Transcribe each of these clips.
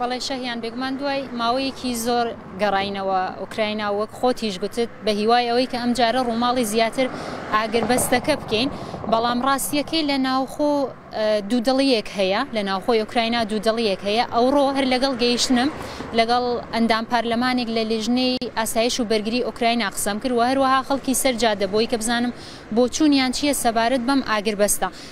بەڵێ شەهیان، بێگومان دوای ماوەیەکی زۆر گەڕاینەوە ئۆکراینا و وەک خۆتیش گوتت بە هیوای ئەوەی کە ئەمجارە ڕووماڵی زیاتر ئاگربەستەکە بکەین، بەڵام ڕاستییەکەی لە ناوخۆ دوودڵییەک هەیە، لە ناوخۆی ئۆکراینا دوودڵییەک هەیە، ئەوڕۆ هەر لەگەڵ گەیشتنم لەگەڵ ئەندام پارلەمانێک لە لیژنەی ئاسایش و بەرگری ئۆکراینا قسەم کرد و هەروەها خەڵکی سەر جادە بۆی کە بزانم بۆچوونیان چییە سەبارەت بەم ئاگربەستە.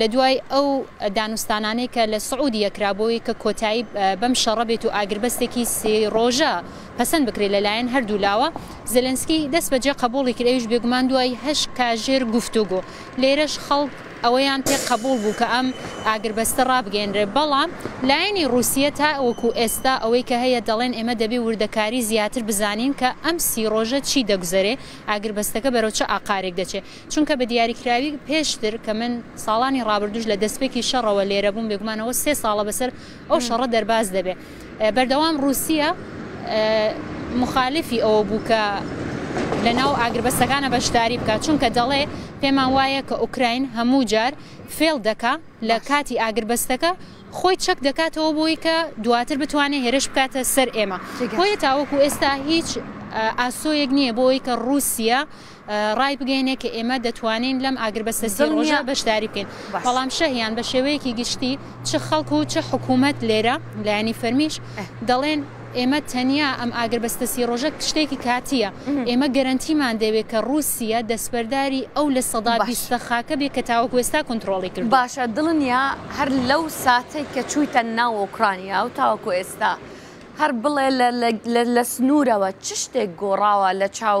لە دوای ئەو دانوستانانەی کە لە سعودیە کرا بۆ وەی کە کۆتایی بەم شەڕە بێت و ئاگربەستێکی سێ رۆژە پەسەند بکرێت لە لایەن هەردوو لاوە، زێلێنسکی دەست بە جێ قەبووڵی کرد ئەویش بێگومان دوای هەشت کاژێر گفتوگۆ. لێرەش خەڵک ئەوەیان پێ قەبووڵ بوو کە ئەم ئاگربەستە رابگەیەنرێت بەڵام لایەنی رووسیە تاوەکو ئێستا ئەوەی کە هەیە دەڵێن ئێمە دەبێ وردەکاری زیاتر بزانین کە ئەم سی رۆژە چی دەگوزەرێ، ئاگربەستەکە بەرەو چ ئاقارێک دەچێ. چونکە بە دیاریکراوی پێشتر کە من ساڵانی ڕابردوش لە دەستپێکی شەڕەوە لێرە بووم بێگومانەوە سێ ساڵە بەسەر ئەو شەڕە دەرباز دەبێت بەردەوام رووسە مخالفی ئەوە بوو کە لە ناو ئاگربەستەکانە بەشداری بکات چونکە دەڵێ پێمان وایە کە ئۆکراین هەموو جار فێڵ دەکا لە کاتی ئاگربەستەکە خۆی چەک دەکاتەوە بۆی کە دواتر بتوانێت هێرش بکاتە سەر ئێمە بۆیە تاوەکو ئێستا هیچ ئاسۆیەک نییە بۆی کە رووسە ڕایبگەینێ کە ئێمە دەتوانین لەم ئاگربەستە سی ڕۆژە بەشداری بکەین، بەڵام شەهیان بە شێوەیەکی گشتی چ خەڵک و چ حکوومەت لێرە لایەنی فەرمیش دەڵێن ئێمە تەنیا ئەم ئاگربەستە سی ڕۆژە شتێکی کاتییە، ئێمە گەرەنتیمان دەوێت کە ڕووسیە دەستبەرداری ئەو لە سەدا بیستە خاکە بێ کە تاوەکو ئێستا کۆنترۆڵی کردووە. باشە دڵنیا هەر لەو ساتەی کە چوویتە ناو ئۆکرانیا و تاوەکو ئێستا هەر بڵێ لە سنوورەوە چ شتێک گۆڕاوە لە چاو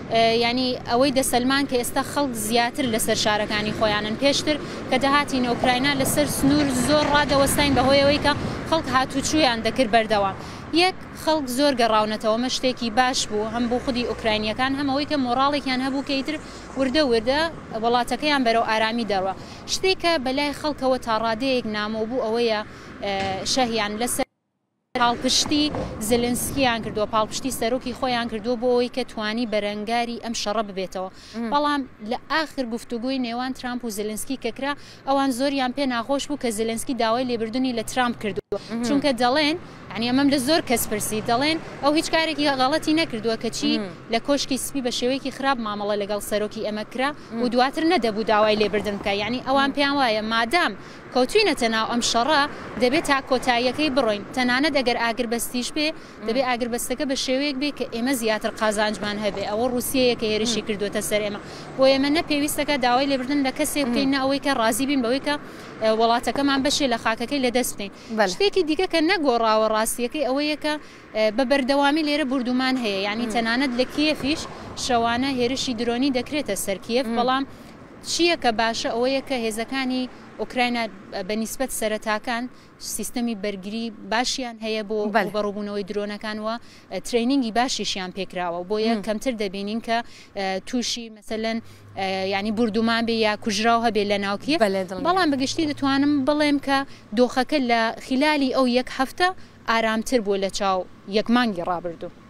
یانی ئەوەی دەسەلمان کە ئێستا خەڵک زیاتر لەسەر شارەکانی خۆیانن، پێشتر کە دەهاتین ئۆکراینا لەسەر سنوور زۆر ڕادەوەستاین بە هۆی ئەوەی کە خەڵک هاتووچوویان دەکرد بەردەوام یەک خەڵک زۆر گەڕاونەتەوە ئەمە شتێکی باش بوو هەم بۆ خودی ئۆکراینییەکان هەم ئەوەی کە مۆڕاڵێکیان هەبوو کە ئیتر وردە وردە وڵاتەکەیان بەرەو ئارامی دەڕوا شتێک کە بەلای خەڵکەوە تاڕادەیەک نامۆ بوو ئەوەیە شەهیان لەسەر پاڵپشتی زلنسکیان کردووە پاڵپشتی سەرۆکی خۆیان کردووە بۆ ئەوەی کە توانی بەرەنگاری ئەم شەڕە ببێتەوە بەڵام لە ئاخر گفتوگوی نێوان ترامپ و زلنسکی کەکرا ئەوان زۆریان پێ ناخۆش بوو کە زلنسکی داوای لێبردننی لە ترامپ کردووە چونکە دەڵێن ئەنی ئەمەم لە زۆر کەس پرسی دەڵێن ئەو هیچ کارێکی غەڵەتی نەکردووە کەچی لە کۆشکی سپی بە شێوەیەکی خراپ مامەڵە لەگەڵ سەرۆکی ئەمە کرا و دواتر نەدەبوو داوای لێبردن بکە یعنی ئەوان پێیان وایە مادام کەوتوینەتە ناو ئەم شەڕە دەبێ تا کۆتاییەکەی بڕۆین تەنانەت ئەگەر ئاگربەستیش بێ دەبێ ئاگربەستەکە بە شێوەیەک بێ کە ئێمە زیاتر قازانجمان هەبێ ئەوە ڕوسیەیە کە هێرشی کردووەتە سەر ئێمە بۆ ئێمە نە پێویستە کە داوای لێبردن لە کەسێک بکەین نە ئەوەی کە ڕازی بین بەوەی کە وڵاتەکەمان بەشێ لە خاکەکەی لە دەست بکەین شتێکی دیکە کە نەگۆڕاوە ڕاستیەکەی ئەوەیە کە بە بەردەوامی لێرە بوردومان هەیە یعنی تەنانەت لە کیێفیش شەوانە هێرشی درۆنی دەکرێتە سەر کیێف بەڵام چییە کە باشە ئەوەیە کە هێزەکانی ئۆکراینا بە نیسبەت سەرەتاکان سیستەمی بەرگری باشیان هەیە بۆ ڕووبەڕووبوونەوەی درۆنەکان و ترەینینگی باشیشیان پێکراوە و بۆیە کەمتر دەبینین کە تووشی مەسەلەن یانی بوردومان بێ یا کوژراو هەبێ لە ناوکیە بەڵام بەگشتی دەتوانم بڵێم کە دۆخەکە لە خلالی ئەو یەک هەفتە ئارامتر بووە لە چاو یەک مانگی ڕابردوو.